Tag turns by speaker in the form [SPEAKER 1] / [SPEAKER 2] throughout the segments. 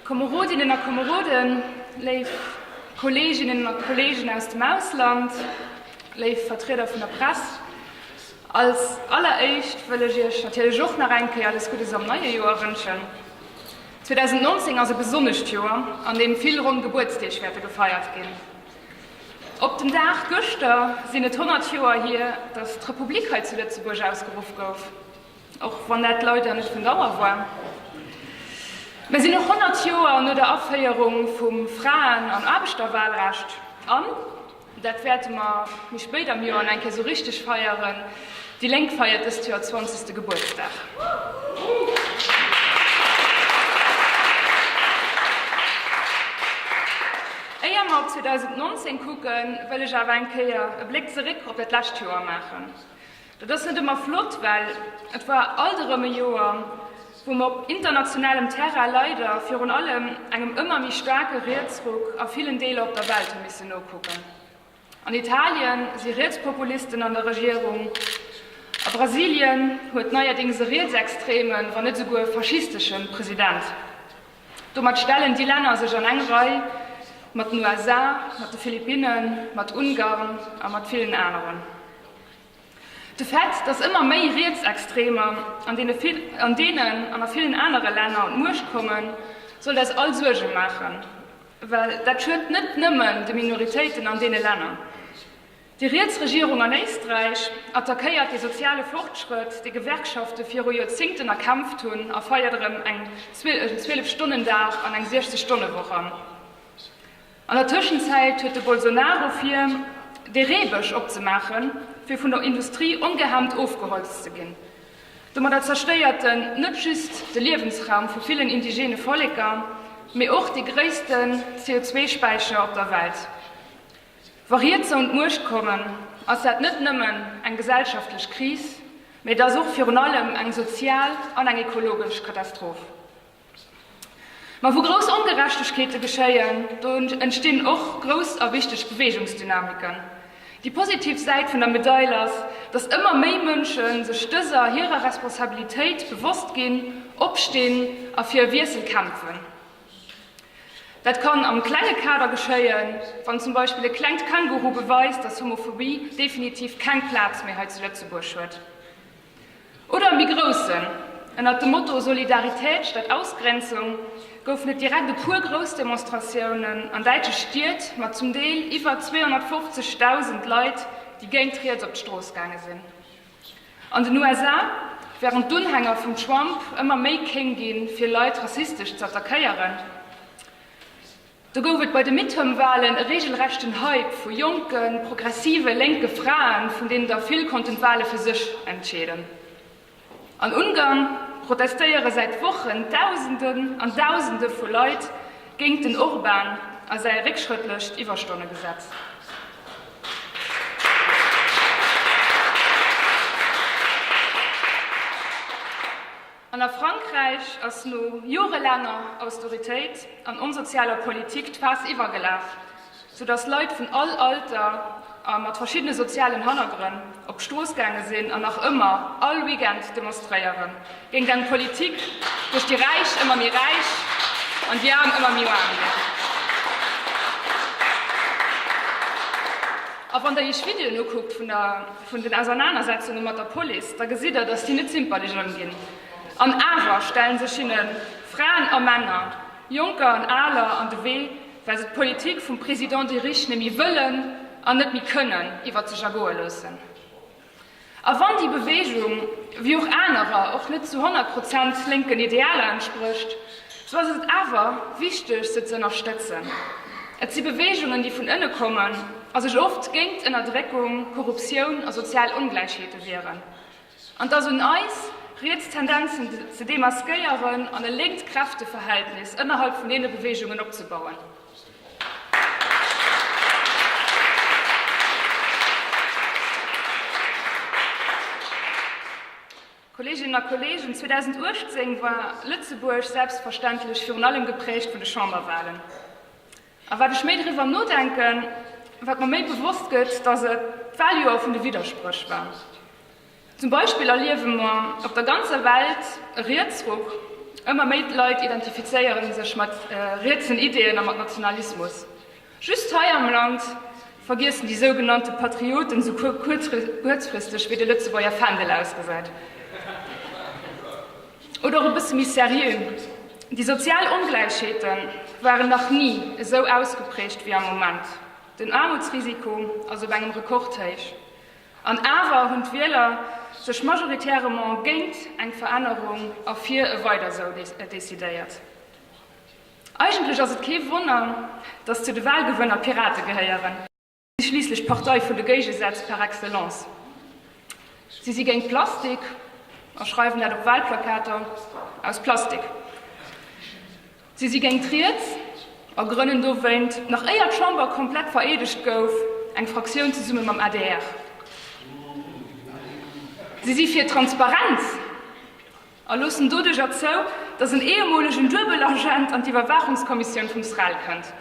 [SPEAKER 1] Komerodinnen a Komeroden, léif Kolleeginnen a Kolleegen aus dem Ausland, léif Vertrieder vun der Press, als alleréischt wëll ech Iech natierlech och nach eng Kéier alles Guddes am neie Joer wënschen. 2019 ass e besonnescht Joer, an deem vill ronn Gebuertsdeeg wäerte gefeiert ginn. Op den Dag gëschter sinn et 100 Joer hier, datt d'Republik hei zu Lëtzebuerg ausgeruff gouf. Och wann dat leider net vun Dauer war. Mir sinn och 100 Joer no der Aféierung vum Fraen an Aarbechterwahlrecht an, dat wäerte mer méi spéit am Joer an eng Kéier esou richteg feieren, déi Lénk feiert dëst Joer 20. Gebuertsdag. Éier mer op 2019 kucken, wëll ech awer eng Kéier e Bléck zeréck op dat lescht Joer maachen. Dat ass net ëmmer flott, well et war alt erëm e Joer, wou mer op internationalem Terrain leider virun allem engem ëmmer méi staarke Rietsruck a villen Deeler op der Welt hu missen nokucken. An Italien si Rietspopulisten an der Regierung, a Brasilien huet neierdéngs e rietsextreme, wann net esouguer faschistesche President. Domat stellen déi Länner sech an eng Rei mat den USA, mat de Philippinnen, mat Ungarn a mat villen aneren. De Fait, datt ëmmer méi Rietsextremer an deenen an a villen anere Länner un d'Muecht kommen, sollt eis all Suerge maachen, well dat schuet net nëmmen de Minoritéiten an deene Länner. Déi riets Regierung an Éisträich attackéiert de soziale Fortschrëtt, dee Gewerkschafte viru Joerzéngten erkämpft hunn, a feiert erëm en Zwielefstonnendag an eng 60-Stonne-Woch an. An der Tëschenzäit huet de Bolsonaro vir, de Reebësch opzemaachen, fir vun der Industrie ongehemmt ofgeholzt ze ginn. Domadder zerstéiert en net just de Liewensraum vu villen indigene Volleker, mee och dee gréissten CO2-Späicher op der Welt. Wa Rietser un d'Muecht kommen, ass dat net nëmmen eng gesellschaftlech Kris, mee et ass och virun allem eng sozial an eng ekologesch Katastroph. Ma wou grouss Ongerechtegkeete geschéien, do entstinn och grouss a wichteg Beweegungsdynamiken. Déi positiv Säit vun der Medail ass, datt ëmmer méi Mënsche sech dëser hirer Responsabilitéit bewosst ginn, opstinn a fir e Wiessel kämpfen. Dat kann am klenge Kader geschéien, wann zum Beispill e klengt Känguru beweist, datt Homophobie definitiv keng Plaz méi hei zu Lëtzebuerg huet. Oder e méi groussen. Ënnert dem Motto Solidarität statt Ausgrenzung goufen et direkt e puer grouss Demonstratiounen an däitsche Stied mat zum Deel iwwer 250.000 Leit, déi géint riets op d'Strooss gaange sinn. An den USA, wärend d'Unhänger vum Trump ëmmer méi kéng gi fir Leit rassistesch z'attackéieren, Do gouf et bei de Midterm-Walen e reegelrechten Hype vu jonken, progressive lénke Fraen, vun deenen der vill konnten d'Wale fir sech entscheeden. An Ungarn protestéiere säit Wochen Dausenden an Dausende vu Leit géint den Orban a säi réckschrëttlecht Iwwerstonnegesetz. An a Frankräich ass no jorelaanger Austeritéit an onsozialer Politik d'Faass iwwergelaf, sou datt Leit vun all Alter a mat verschiddene sozialen Hannergrënn op d'Strooss gaange sinn an nach ëmmer all Weekend demonstréiere géint eng Politik, duerch déi Räich ëmmer méi räich an déi Aarm ëmmer méi aarm ginn. A wann Der Iech Videoen ukuckt vun der. Vun den Ausernanersetzunge mat der Police, da gesitt Der, datt si net zimperlech ëmginn. An awer stelle sech hinne Fraen a Männer, Jonker an Aler an de Wee, well se d'Politik vum Président de Riche net méi wëllen an net méi kënnen iwwert sech ergoe loossen. A wann déi Beweegung, wéi och anerer, och net zu honnert Prozent lénken Idealer entsprécht, Sou ass et awer wichteg se ze ënnerstëtzen. Et si Beweegungen déi vun ënne kommen a sech oft géint Ënnerdréckung, Korruptioun a sozial Ongläichheete wieren. An et ass un eis, riets Tendenzen ze demaskéieren an e lénkt Kräfteverhältnis ënnerhalb vun deene Beweegungen opzebauen. Kolleeginnen a Kolleegen, 2018 war Lëtzebuerg selbstverständlech virun allem geprägt vun de Chamberwahlen. A wat ech méi driwwer nodenken, wat mer méi bewosst gëtt, dass et d'Wahljoer vun de Widderspréch war. Zum Beispill erliewe mer op der ganzer Welt e Rietsruck, ëmmer méi Leit identifizéiere sech mat rietsen Ideeën a mat Nationalismus. Just hei am Land vergiessen déi sougenannte Patrioten sou kuerzfristeg, wéi de Lëtzebuerger Fändel ausgesäit. Oder och e bësse méi seriö, Déi sozial Ongläichheete waren nach ni esou ausgeprägt wéi am Moment. Den Aarmutsrisiko ass op engem Rekordhéich. An awer hunn d'Wieler sech majoritäirement géint eng Verännerung a fir e Weidersou decidéiert. Eigentlech ass et kee Wonner, datt zu de Wahlgewënner d'Pirate gehéieren. Si si schliisslech d'Partei vun de Géigesätz par excellence. Si si géint Plastik a schreiwen dat op Wahlplakater aus Plastik. Si si géint riets a grënnen dowéint, nach éier d'Chamber komplett vereedegt gouf, eng Fraktioun zesumme mam adr. Si si fir Transparenz, a loossen doduerjer zou, datt en ehemolegen Duebelagent an d'Iwwerwaachungskommissioun vum SREL kënnt.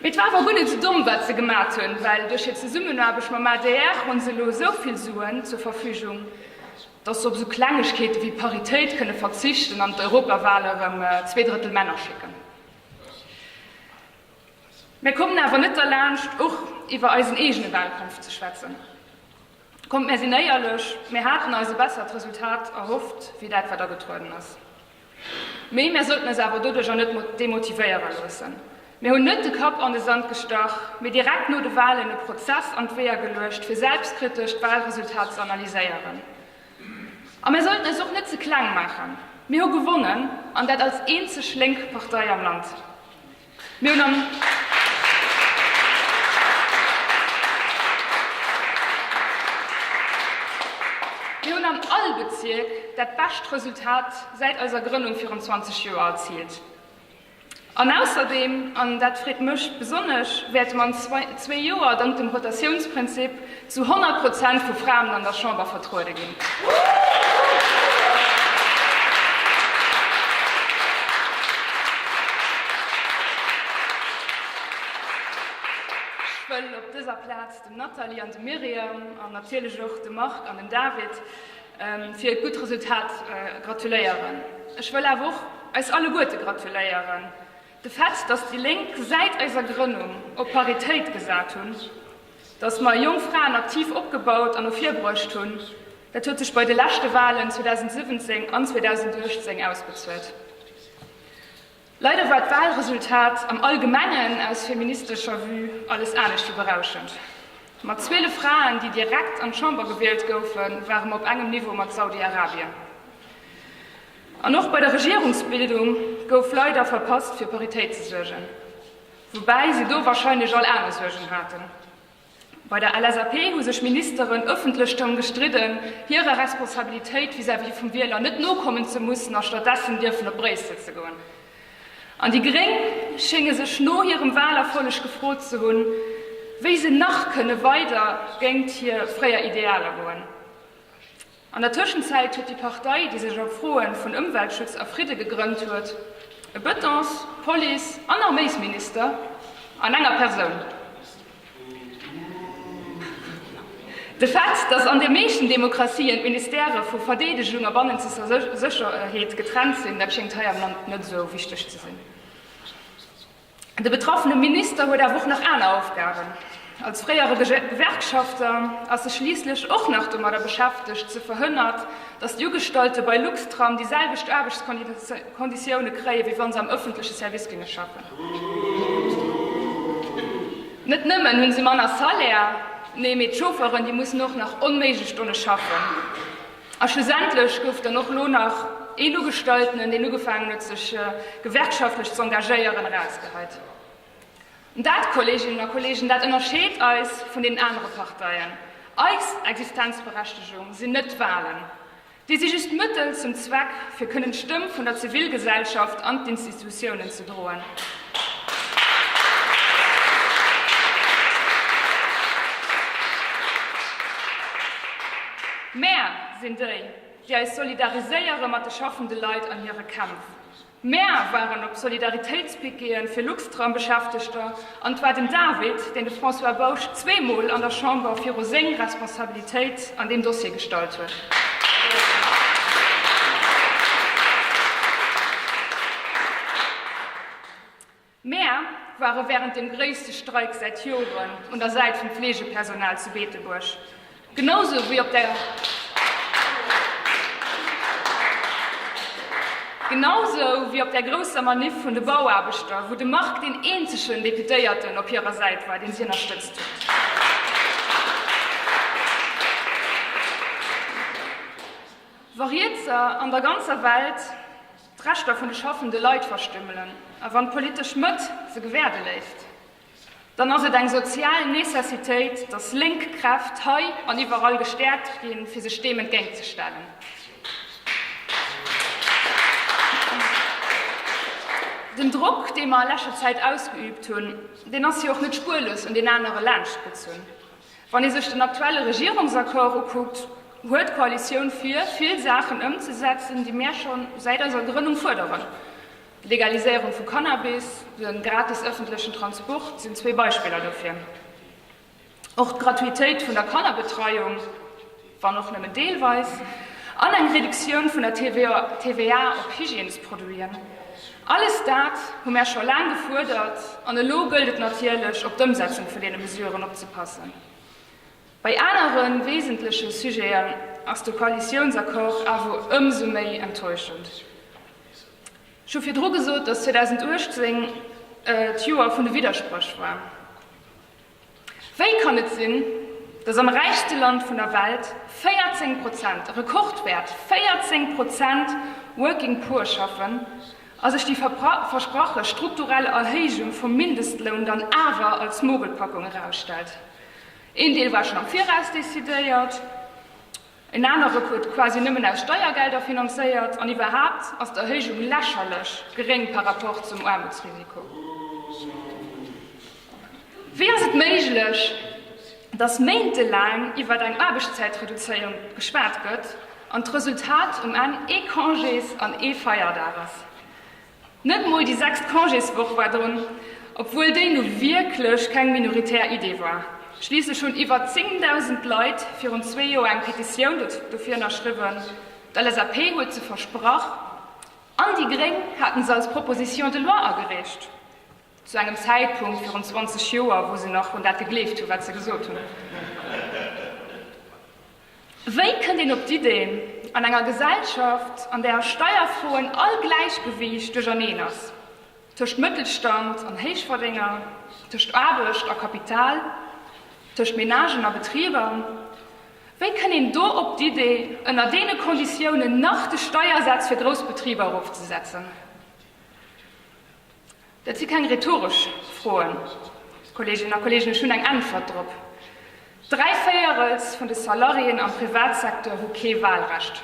[SPEAKER 1] Mee et war awer gutt net esou domm, wat se gemat hunn, well duerch hir Zesummenaarbecht mam adr hu se elo esou vill Suen zur Verfügung, datt se op esou Klengegkeete wéi Paritéit kënne verzichten an d'Europawahl erëm zwee Drëttel Männer schécken. Mir kommen awer net derlaanscht, och iwwer eisen eegene Wahlkampf ze schwätzen. Kommt, mär sinn éierlech, mär haten eis e bessert Resultat erhofft wéi dat, wat agetrueden ass. Mee mär sollten eis awer doduercher net demotivéiere loossen. Mir hunn net de Kapp an de Sand gestach, mee direkt no de Walen e Prozess an d'Weeër geluecht, fir selbstkritesch d'Walresultat ze analyséieren. A mär sollten eis och net ze kleng maachen. Mir hu gewonnen, an dat als eenzeg lénk Partei am Land. Mir hunn am Mir hunn an all Bezierk dat bescht Resultat säit eiser Grënnung virun 20 Joer erziilt. An ausserdeem, an dat freet mech besonnesch, wäerte mer an zwee Joer, dank dem Rotatiounsprinzip, Zu 100 Prozent vu Fraen an der Chamber vertruede ginn. Ech wëll op dëser Plaz dem Nathalie an dem Myriam an natierlech och dem Marc an dem David fir hiert gutt Resultat gratuléieren. Ech wëll awer och eis alleguerte gratuléieren. De Fait, dass déi Lénk säit eiser Grënnung op Paritéit gesat hunn, dass mer jonk Fraen aktiv opgebaut an ervirbruecht hunn, dat huet sech bei de leschte Walen 2017 an 2018 ausbezuelt. Leider war d'Walresultat am Allgemengen aus feministescher Vue alles anescht wéi berauschend. Mat 12 Fraen, déi direkt an d'Chamber gewielt goufen, ware mer op engem Niveau mat Saudi-Arabien. An och bei der Regierungsbildung gouf leider verpasst fir Paritéit ze suergen, woubäi se do wahrscheinlech all aner Suergen haten. Bei der LSAP hu sech Ministeren ëffentlech drëm gestridden, hirer Responsabilitéit vis-à-vis vum Wieler net nokommen ze mussen a stattdessen dierfen op Bréissel ze goen. An déi Gréng schénge sech no hirem Wahlerfolleg gefrot ze hunn, wéi se nach kënne weider géingt hir fréier Idealer goen. An der Tëschenzäit huet déi Partei, déi sech op Froe vun Ëmweltschutz a Fridde gegrënnt huet, e Bëtongs-, Police an Arméisminister an enger Persoun. De Fait, datt an de meeschten Demokratien d'Ministèrë vu Verdeedegung a bannenzesser Sécherheet getrennt sinn, dat schéngt hei am Land net esou wichteg ze sinn. De betraffene Minister huet awer och nach aner Aufgaben. Als fréiere Gewerkschafter ass e schliisslech och nach domadder beschäftegt, ze verhënnert, datt d'Ugestallte bei Luxtram déi selwecht Aarbechtskonditioune kréie wéi wa se am ëffentleche Service géinge schaffen. Net nëmmen hu se manner Salaire, nee, mee d'Chauffeuren, déi mussen och nach onméiglech Stonne schaffen. A schlussendlech gouf dann och lo nach een Ugestaltenen, deen ugefaangen huet sech gewerkschaftlech ze engagéieren, erausgehäit. An dat, Kolleeginnen a Kolleegen, dat ënnerscheet eis vun deenen anere Parteien. Eis Existenzberechtegung sinn net d'Wahlen, déi si just Mëttel zum Zweck, fir kënnen d'Stëmm vun der Zivilgesellschaft an d'Institutiounen gedroen. Mär sinn déi, déi eis solidariséiere mat de schaffende Leit an hire Kämpf. Mär waren op Solidaritéitspickeeë fir Luxtram-Beschäftegter. An et war den David, deen de François Bausch zweemol an der Chamber viru seng Responsabilitéit an deem Dossier gestallt huet. Mär ware wärend deem gréisste Streik säit Joren un der Säit vum Fleegepersonal zu Beetebuerg. Genausou wéi op der Genausou wéi op der grousser Maniff vun de Bauaarbechter, wou de Marc deen eenzegen Deputéierten op hirer Säit war, deen si ënnerstëtzt huet. Wa Rietser an der ganzer Welt d'Rechter vun de schaffende Leit verstümmelen a wann d'politesch Mëtt se gewäerde léisst, dann ass et eng sozial Necessitéit, datt lénk Kräft hei an iwwerall gestäerkt ginn, fir sech deem entgéint ze stellen. Den Drock, dee mer a lescher Zäit ausgeübt hunn, deen ass jo och net spuerlos un deen anere laanscht gezunn. Wann ee sech den aktuelle Regierungsaccord ukuckt, huet d'Koalitioun vir, vill Saachen ëmzesetzen, déi mär scho säit eiser Grënnung fuerderen. D'Legaliséierung vu Cannabis, de gratis ëffentlechen Transport sinn zwee Beispiller dofir. Och d'Gratuitéit vun der Kannerbetreiung, wann och nëmmen deelweis, an eng Reduktioun vun der TVA op Hygiènesproduiten, alles dat hu mär scho laang gefuerdert. An elo gëllt et natierlech, op d'Ëmsetzung vun deene Mesuren opzepassen. Bei anere wesentleche Sujeten ass de Koalitiounsaccord awer ëmsou méi enttäuschend. Ech hu virdru gesot, dass 2018 d'Joer vun de Widderspréch war. Wéi kann et sinn, dass am räichste Land vun der Welt 14 Prozent, e Rekordwäert, 14 Prozent Working Poor schaffen a sech déi versprache strukturell Erhéijung vum Mindestloun dann awer als Mogelpackung erausstellt? Een Deel war schonn am Viraus decidéiert. En anere Ruff huet quasi nëmmen aus Steiergelder finanzéiert. An iwwerhaapt ass d'Erhéijung lächerlech geréng par rapport zum Aarmutsrisiko. Wéi ass et méiglech, datt méintelaang iwwert eng Aarbechtszäitreduzéierung geschwat gëtt an d'Resultat um Enn ee Congés an ee Feierdag ass? Net mol déi sechst Congéswoch war drun, obwuel déi nu wierklech keng minoritär Idee war. Schliisslech hunn iwwer 10.000 Leit virun zwee Joer eng Petitioun dofir ënnerschriwwen. D'LSAP huet se versprach an déi Gréng haten se als Proposition de loi agereecht. Zu engem Zäitpunkt virun 20 Joer, wou se nach un dat gegleeft hunn, wat se gesot hunn. Wéi kënnt een op d'Ideen, an enger Gesellschaft, an där a Steierfroen all Gläichgewiicht duercherneen ass, tëscht Mëttelstand an Héichverdénger, tëscht Aarbecht a Kapital, tëscht Menagen a Betriber, wéi kënnt een do op d'Idee, ënner deene Konditiounen nach de Steiersaz fir grouss Betriber erofzesetzen? Dat si keng rhetoresch Froen, Kolleeginnen a Kolleegen, ech hunn eng Äntwert drop. Dräi Véierels vun de Salariéen am Privatsecteur hu kee Wahlrecht.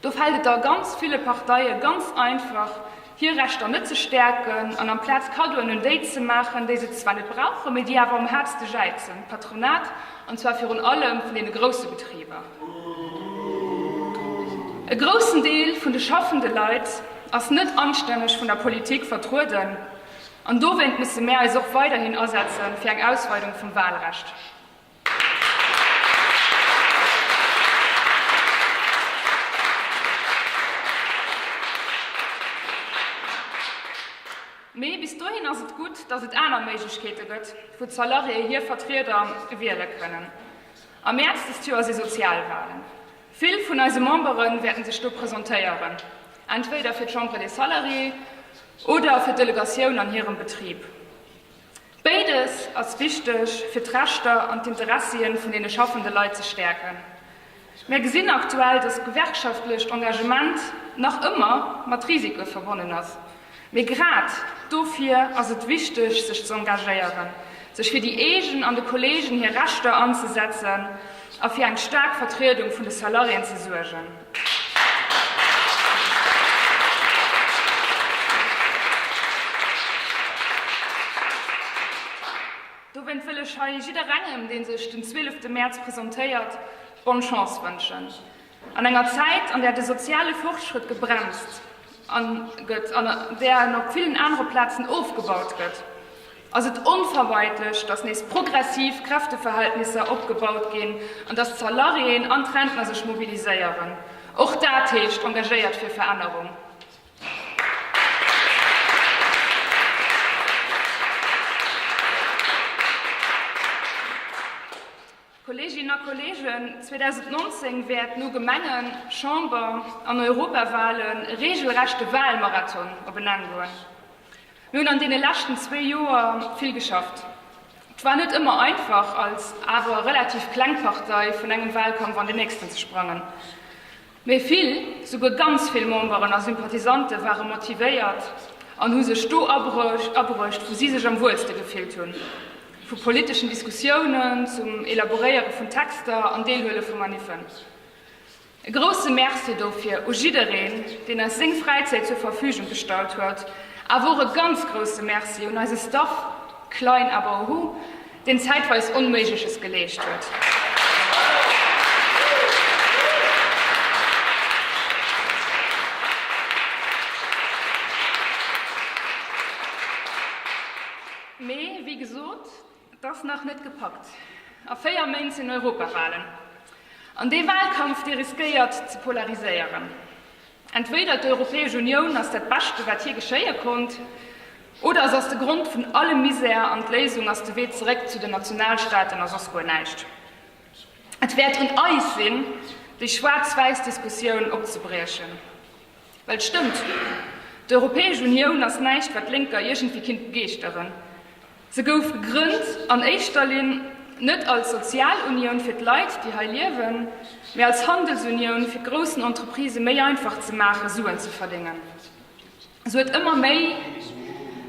[SPEAKER 1] Do fält et a ganz ville Parteie ganz einfach, hir Rechter net ze stäerken an amplaz Kaddoen un déi ze maachen, déi se zwar net brauchen, mee déi awer um häertste jäizen, d'Patronat, an zwar virun allem vun deene grousse Betriber. E groussen Deel vun de schaffende Leit ass net anstänneg vun der Politik vertrueden an dowéint musse mär eis och weiderhin asetze fir eng Ausweidung vum Wahlrecht. Mee bis dohin ass et gutt, datt et aner Méiglechkeete gëtt, wou d'Salariéë hir Vertrieder wiele kënnen. Am Mäerz dëst Joer si Sozialwalen. Vill vun eise Membere wäerte sech do presentéieren, entweder fir d'Chambre des Salariés oder fir d'Delegatioun an hirem Betrib. Béides ass wichteg, fir d'Rechter an d'Interessie vun deene schaffende Leit ze stäerken. Mär gesinn aktuell, dass gewerkschaftlecht Engagement nach ëmmer mat Risike verbonnen ass. Mee grad dofir ass et wichteg, sech ze engagéieren, sech fir déi eegen an de Kolleegen hir Rechter anzesetzen a fir eng staark Vertriedung vun de Salariéen ze suergen. Dowéint wëll ech hei jidderengem, dee sech den 12 Mäerz presentéiert, Bonne Chance wënschen. An enger Zäit, an där de soziale Fortschrëtt gebremst gëtt an an där en op villen anere Plazen ofgebaut gëtt, ass et onvermeidlech, datt nees progressiv Kräfteverhältnisser opgebaut ginn an datt d'Salariéen an d'Rentner sech mobiliséieren. Och dat heescht engagéiert fir Verännerung. Kolleeginnen a Kolleegen, 2019 wäert no Gemengen-, Chamber an Europawalen e reegelrechte Walmarathon op en Enn goen. Mir hunn an deene leschten zwee Joer vill geschafft. Et war net ëmmer einfach, als awer relativ kleng Partei vun engem Walkampf an den nächsten ze sprangen. Mee vill, souguer ganz vill Memberen a Sympathisante ware motivéiert an hu sech do abruecht, wou si sech am wuelste gefillt hunn, vu politeschen Diskussiounen zum Elaboréiere vun Texter an Deelhuele vu Maniffen. E grousse Merci dofir u jiddereen, deen eis seng Fräizäit zur Verfügung gestallt huet, awer och e ganz grousse Merci un eise Staff, klein aber ohu! deen zäitweis Onméigleches geleescht huet. Mee, wéi gesot, et ass nach net gepackt. A véier Méint sinn Europawahlen. An dee Wahlkampf, dee riskéiert ze polariséieren. Entweder d'Europäesch Unioun ass dat Beschte wat hir geschéie konnt, oder et ass de Grond vun allem Misär an d'Léisung ass de Wee zeréck zu den Nationalstaaten a soss guer näischt. Et wäert un eis sinn, déi schwaarz-wäiss Diskussioun opzebriechen. Well et stëmmt, d'Europäesch Unioun ass näischt wat d'Lénker iergendwéi kinnt begeeschteren. Se gouf gegrënnt an éischter Linn net als Sozialunioun fir d'Leit, déi hei liewen, mee als Handelsunioun, fir groussen Entreprisë méi einfach ze maachen, Suen ze verdéngen. Se huet ëmmer méi,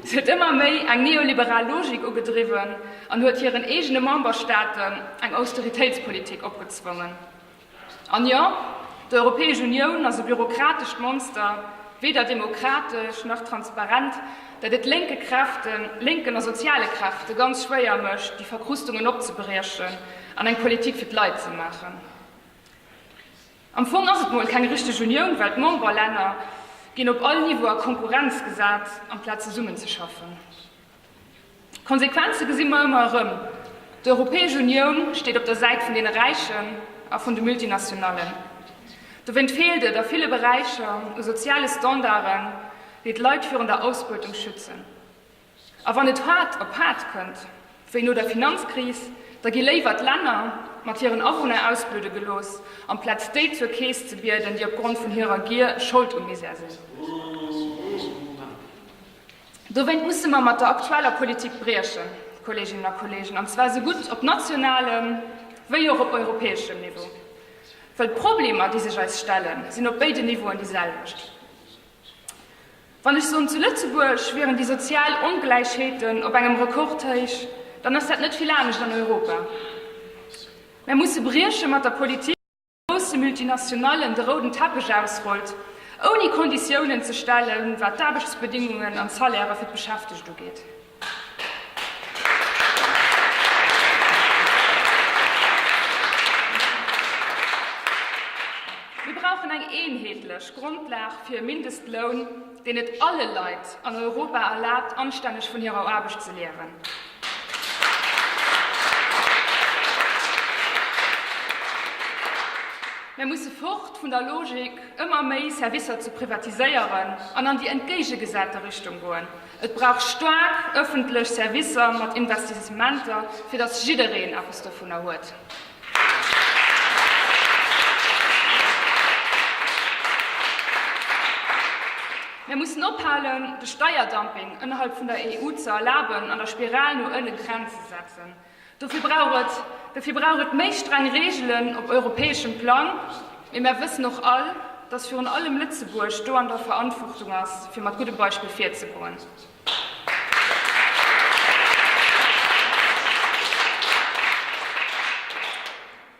[SPEAKER 1] se huet ëmmer méi eng neoliberal Logik ugedriwwen an huet hiren eegene Memberstaaten eng Austeritéitspolitik opgezwongen. An jo, d'Europäesch Unioun ass e bürokratescht Monster, weder demokratesch nach transparent, dat et lénke Kräften, lénken a soziale Kräfte ganz schwéier mécht, déi Verkrustungen opzebriechen an eng Politik fir d'Leit ze maachen. Am Fong ass et mol keng richteg Unioun, well d'Memberlänner ginn op all Niveau a Konkurrenz gesat, amplaz zesummenzeschaffen. D'Konsequenze gesi mer ëmmer erëm, D'Europäesch Unioun steet op der Säit vun deene Räichen a vun de Multinationallen. Dowéint feelt et a ville Beräicher u soziale Standarden, déi d'Leit virun der Ausbeutung schützen. A wann et haart op haart kënnt, wéi no der Finanzkris, da gi léiwer d'Länner mat hiren Awunner ausbludde gelooss, amplaz déi zur Keess ze bieden, déi opgrond vun hirer Gier Schold um Misär sinn. Dowéint musse mer mat der aktueller Politik briechen, Kolleeginnen a Kolleegen, an zwar esou gutt op nationalem wéi och op europäeschem Niveau. Well d'Problemer, déi sech eis stellen, sinn op béiden Niveauen déi selwecht. Wann ech soen, zu Lëtzebuerg wieren déi sozial Ongläichheeten op engem Rekordhéich, dann ass dat net vill anescht an Europa. Mer musse brieche mat der Politik. grousse Multinationallen de rouden Teppech ausrollt, ouni Konditiounen ze stellen, wat d'Aarbechtsbedingungen an d'Salairë fir d'Beschäftegt ugeet. Mir brauchen eng eenheetlech Grondlag fir e Mindestloun. deen et alle Leit an Europa erlaabt, anstänneg vun hirer Aarbecht ze liewen. Mir musse fort vun der Logik, ëmmer méi Servicer ze privatiséieren, an an déi entgéigegesate Richtung goen. Et brauch staark ëffentlech Servicer mat Investissementer, fir datt jiddereen eppes dovunner huet. Mir mussen ophalen, de Steierdumping ënnerhalb vun der EU ze erlaben an der Spiral no ënnen Grenz ze setzen. Dofir brauch et, dofir brauch et méi streng Reegelen op europäeschem Plang. Mee mär wëssen och all, dass virun allem Lëtzebuerg do an der Verantwortung ass, fir mat guddem Beispill virzegoen.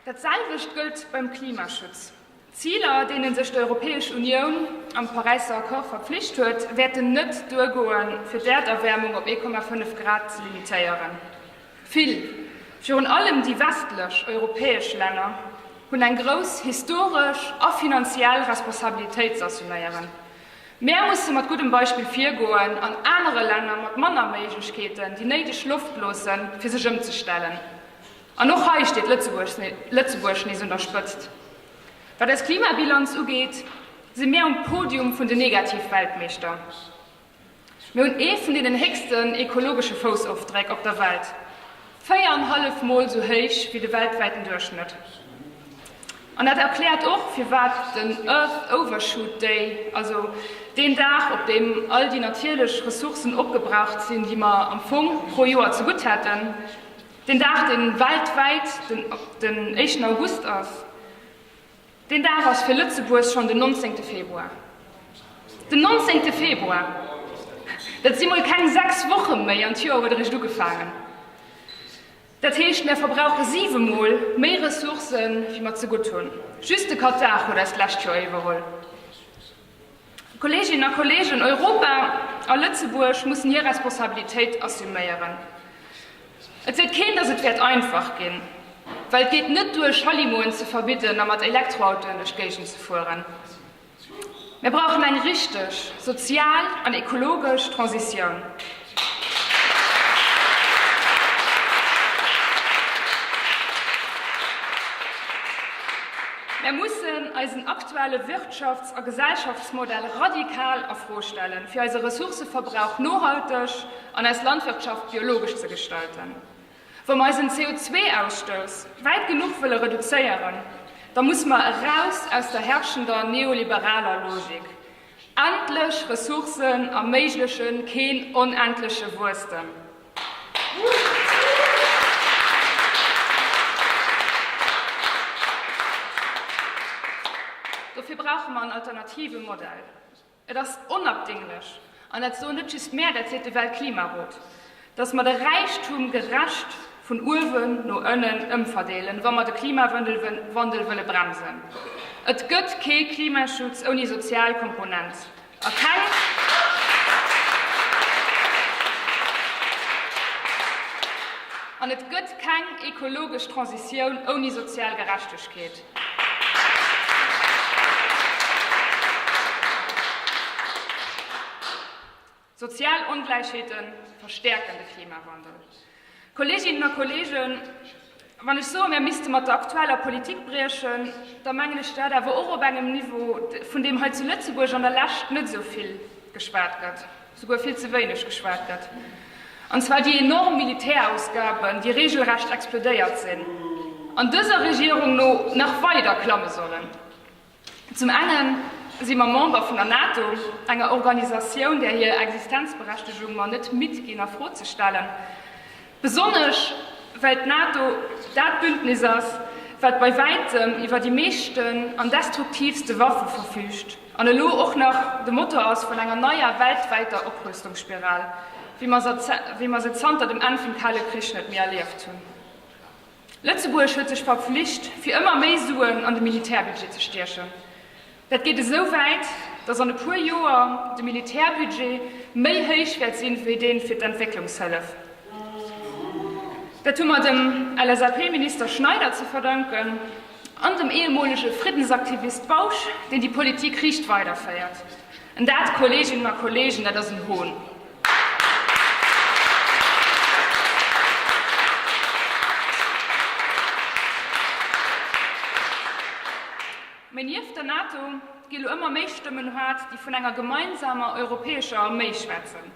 [SPEAKER 1] Dat selwecht gëllt beim Klimaschutz. D'Ziler, deene sech d'Europäesch Unioun am Paräisser Accord verpflicht huet, wäerten net duergoen, fir d'Äerderwäermung op 1,5 Grad ze limitéieren. Vill, virun allem déi westlech europäesch Länner, hunn eng grouss historesch a finanziell Responsabilitéit z'assuméieren. Mär musse mat guddem Beispill virgoen an anere Länner mat manner Méiglechkeeten déi néideg Loft loosse fir sech ëmzestellen. An och hei steet Lëtzebuerg nees un der Spëtzt. Wat eis Klimabilanz ugeet, si mir um Podium vun den Negativ-Weltmeeschter. Mir hunn ee vun deenen héchsten ekologesche Foussofdréck op der Welt, véier an hallef Mol esou héich wéi de weltwäiten Duerchschnëtt. An dat erkläert och, firwat den Earth Overshoot Day, also deen Dag, op deem all déi natierlech Ressourcen opgebraucht sinn, déi mer am Fong pro Joer zegutt hätten, deen Dag, dee weltwäit den éischten August ass. Deen Dag ass fir Lëtzebuerg schonn den nonzéngte Februar. Den nonzéngte Februar! Dat si mol keng sechs Woche méi an d'Joer huet eréischt ugefaangen. Dat heescht, mär verbrauche siwe mol méi Ressourcë wéi mer zegutt hunn. Just de Katar huet eis d'lescht Joer iwwerholl. Kolleeginnen a Kolleegen, Europa a Lëtzebuerg mussen hir Responsabilitéit assuméieren. Et seet keen, datt et wäert einfach ginn, well et geet net duer, Schallimoen ze verbidden a mat Elektroautoen duerch d'Géigend ze fueren. Mir brauchen eng richteg sozial an ekologesch Transitioun. Mär mussen eisen aktuelle Wirtschafts a Gesellschaftsmodell radikal a Fro stellen, fir eise Ressourcëverbrauch nohalteg an eis Landwirtschaft biologesch ze gestalten. Wa mer eisen CO2-Ausstouss wäit genuch wëlle reduzéieren, da musse mer eraus aus der herrschender neoliberaler Logik. Endlech Ressourcen erméiglechen keen onendleche Wuesstem. Dofir brauche mer en alternative Modell. Et ass onabdinglech, an dat soen net just mär, dat seet de Weltklimarot. dass mer de Räichtum gerecht vun uewen no ënnen ëmverdeelen, wa mer de Klimawandel wëlle bremsen. Et gëtt kee Klimaschutz ouni sozial Komponent a keng an et gëtt keng ekologesch Transitioun ouni sozial Gerechtegkeet. Sozial Ongläichheete verstäerken de Klimawandel. Kolleeginnen a Kolleegen, wann ech soe mir misste mat der aktueller Politik briechen, da mengen ech dat awer och op engem Niveau, vun deem hei zu Lëtzebuerg an der Lescht net esou vill geschwat gëtt, souguer vill ze wéineg geschwat gëtt, an zwar déi enorm Militärausgaben, déi regelrecht explodéiert sinn an dëser Regierung no nach weider klamme sollen. Zum enge si mer Member vun der NATO, enger Organisatioun, där hir Existenzberechtegung mer net midd ginn a Fro ze stellen, besonnesch well d'NATO dat Bündnis ass, wat bei wäitem iwwer déi meeschten an destruktiivste Waffe verfüügt an elo och nach de Motor ass vun enger neier weltwäiter Oprüstungsspiral, wéi mer se zanter dem Enn vum Kale Krich net méi erlieft hunn. Lëtzebuerg huet sech verpflicht, fir ëmmer méi Suen an de Militärbudget ze stiechen. Dat geet esou wäit, datt an e puer Joer de Militärbudget méi héich wäert sinn, wéi dee fir d'Entwécklungshëllef. Dat hu mer dem LSAP-Minister Schneider ze verdanken an dem ehemolege Friddensaktivist Bausch, deen déi Politik riicht weiderféiert. Dat, Kolleeginnen a Kolleegen, dat ass en Hohn! Mee nieft der NATO gi lo ëmmer méi Stëmmen haart, déi vun enger gemeinsamer europäescher Arméi schwätzen.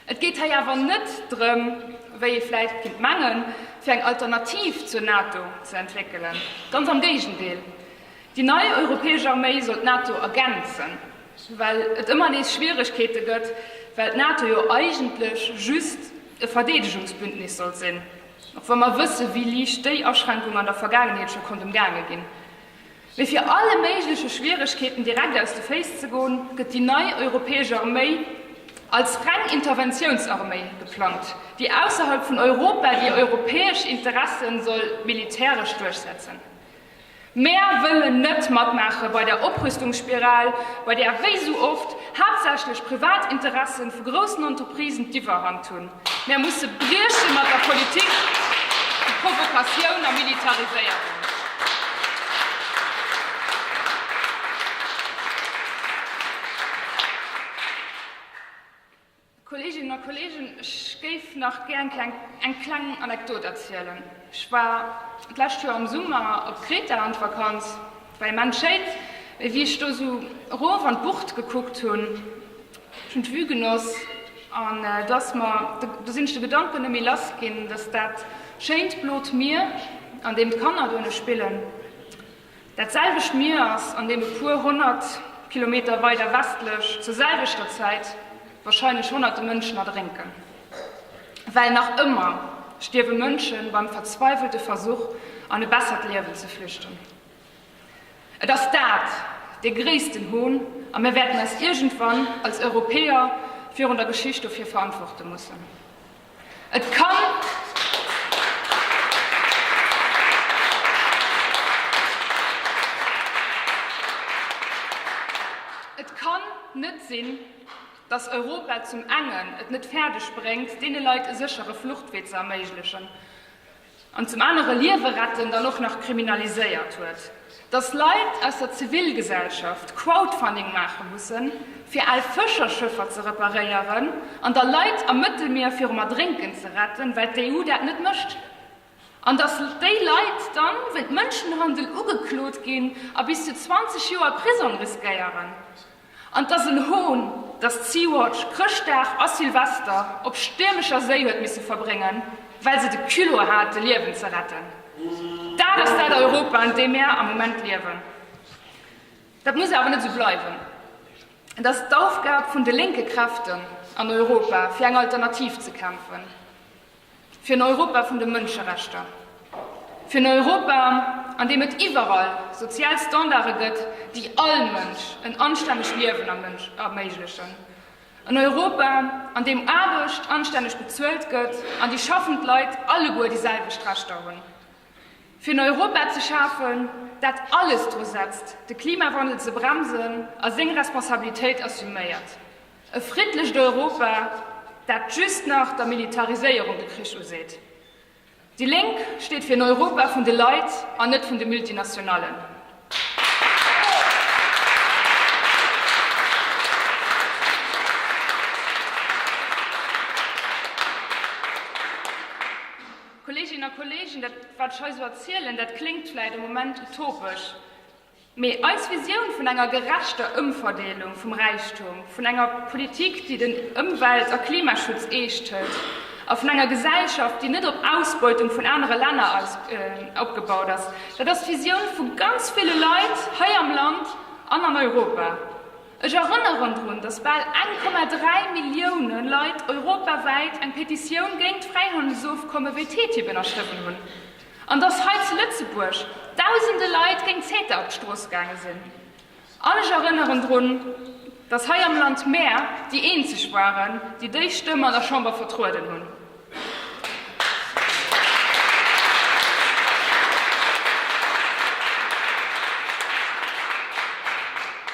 [SPEAKER 1] Et geet hei awer net drëm, wéi ee vläicht kéint mengen, fir eng Alternativ zur NATO ze entwéckelen, ganz am Géigendeel. Déi nei europäesch Arméi soll d'NATO ergänzen, well et ëmmer nees Schwieregkeete gëtt, well d'NATO jo eigentlech just e Verdeedegungsbündnis soll sinn, och wa mer wësse wéi liicht déi Aschränkung an der Vergaangenheet scho konnt ëmgaange ginn. Mee fir alle méigleche Schwieregkeeten direkt aus de Féiss ze goen, gëtt déi nei europäesch Arméi als reng Interventiounsarméi geplangt, déi ausserhalb vun Europa déi europäesch Interesse soll militäresch duerchsetzen. Mär wëllen net matmaache bei der Oprüstungsspiral, bei där wéi sou oft haaptsächlech Privatinteresse vu groussen Entreprisen d'Iwwerhand hunn. Mär musse brieche mat der Politik vu Provokatioun a Militariséierung. Kolleeginnen a Kolleegen, ech géif nach gär eng kleng Anekdot erzielen. Ech war d'lescht Joer am Summer op Kreta an d'Vakanz war immens schéin. Mee wéi ech do esou erof an d'Bucht gekuckt hunn, ech hunn d'Vue genoss an do ass mer, do sinn ech de Gedanken net méi lass ginn, dass dat schéint blot Mier, an deem d'Kanner dohinne spillen, Dat selwecht Mier ass an deene puer honnert Kilometer weider westlech zur selwechter Zäit warscheinlech honnerte Mënschen erdrénken. Well nach ëmmer stierwe Mënsche beim verzweiwelte Versuch, an e bessert Liewen ze flüchten. Et ass dat dee gréissten Hohn a mir wäerten eis iergendwann als Europäer virun der Geschicht dofir verantworte mussen. Et kann net sinn, datt Europa zum engen et net fäerdeg bréngt, deene Leit e séchere Fluchtwee ze erméiglechen, an zum anere Liewe retten dann och nach kriminaliséiert huet, dass Leit aus der Zivilgesellschaft Crowdfunding maache mussen, fir al Fëscherschëffer ze reparéieren an da Leit am Mëttelmier virum Erdrénken ze retten, well d'EU dat net mécht, an dass déi Leit dann wéint Mënschenhandel ugeklot ginn a bis zu 20 Joer Prisong riskéieren. An et ass en Hohn, dass Sea-Watch Chrëschtdag a Silvester op stiermescher Séi huet misse verbréngen, well se de Culot hate Liewen ze retten. Dat ass dat Europa, an deem mär am Moment liewen. Dat muss awer net esou bleiwen. Et ass d'Aufgab vun de lénke Kräften an Europa, fir eng Alternativ ze kämpfen. Fir en Europa vun de Mënscherechter. Fir en Europa, an deem et iwwerall sozial Standarde gëtt, déi all Mënsch en anstännegt Liewen erméiglechen. En Europa, an deem Aarbecht anstänneg bezuelt gëtt an déi schaffend Leit alleguer déi selwecht Rechter hunn. Fir en Europa ze schafen, dat alles dru setzt, de Klimawandel ze bremsen a seng Responsabilitéit assuméiert. E friddlecht Europa, dat just nach der Militariséierung de Krich useet. Déi Lénk steet fir en Europa vun de Leit an net vun de Multinationallen. Kolleeginnen a Kolleegen, dat wat ech hei esou erzielen, dat kléngt vläicht e Moment utopesch. Mee eis Visioun vun enger gerechter Ëmverdeelung vum Räichtum, vun enger Politik, déi den Ëmwelt a Klimaschutz eescht hëlt, a vun enger Gesellschaft, déi net op Ausbeutung vun anere Länner opgebaut ass, dat ass d'Visioun vu ganz ville Leit hei am Land an an Europa. Ech erënneren drun, datt bal 1,3 Millioune Leit europawäit eng Petitioun géint d'Fräihandelsofkomme wéi TTIP ënnerschriwwen hunn. An dass hei zu Lëtzebuerg Dausende Leit géint CETA op d'Strooss gaange sinn. An ech erënneren drun, dass hei am Land mär déi eenzeg waren, déi déi Stëmm an der Chamber vertrueden hunn.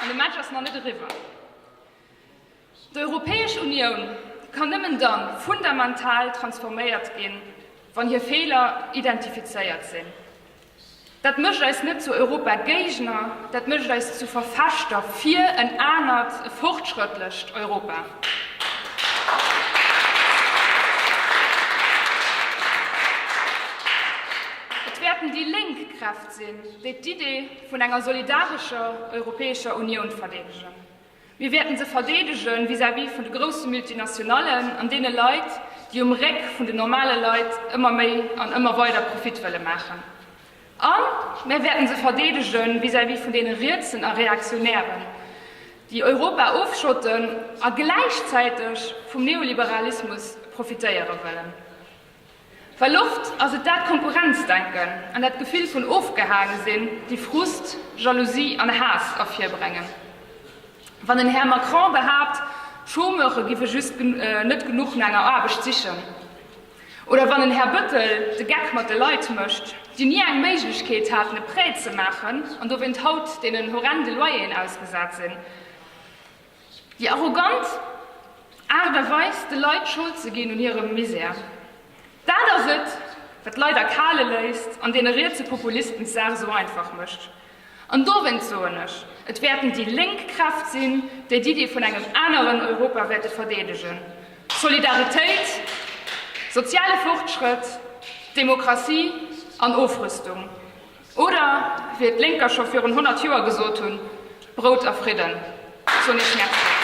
[SPEAKER 1] An de Match ass nach net eriwwer. D'Europäesch Unioun kann nëmmen da fundamental transforméiert ginn, wann hir Feeler identifizéiert sinn. Dat mécht eis net zu Europagéigner, dat mécht eis zu Verfechter fir en anert, e fortschrëttlecht Europa. Et wäerten déi lénk Kräft sinn, déi d'Idee vun enger solidarescher Europäescher Unioun verdeedegen. Mir wäerten se verdeedege vis-à-vis vun de grousse Multinationallen an deene Leit, déi um Réck vun den normale Leit ëmmer méi an ëmmer weider Profit wëlle maachen. A mär wäerten se verdeedege vis-à-vis vun deene Rietsen a Reaktionären, déi Europa ofschotten a gläichzäiteg vum Neoliberalismus profitéiere wëllen. Well oft ass et dat Konkurrenzdenken an dat Gefill vun ofgehaange sinn, déi Frust, Jalousie an Haass ervirbrengen. Wann den Här Macron behaapt, Chômeure géife just net genuch no enger Aarbecht sichen, oder wann den Här Bëttel de Geck mat de Leit mécht, déi ni eng Méiglechkeet haten, e Prêt ze maachen an dowéint haut deenen horrende Loyeren ausgesat sinn, Déi arrogant Aart a Weis, de Leit Schold ze ginn un hirem Misär, dat ass et, wat d'Leit erkale léisst an deene rietse Populisten d'Saach esou einfach mécht. An dowéinst soen ech, et wäerten déi lénk Kräft sinn, déi d'Iddi vun engem aneren Europa wäerte verdeedegen, Solidaritéit, soziale Fortschrëtt, Demokratie an Ofrüstung. Oder wéi et d'Lénker scho virun 100 Joer gesot hunn, Brout a Fridden. Soen Iech Merci.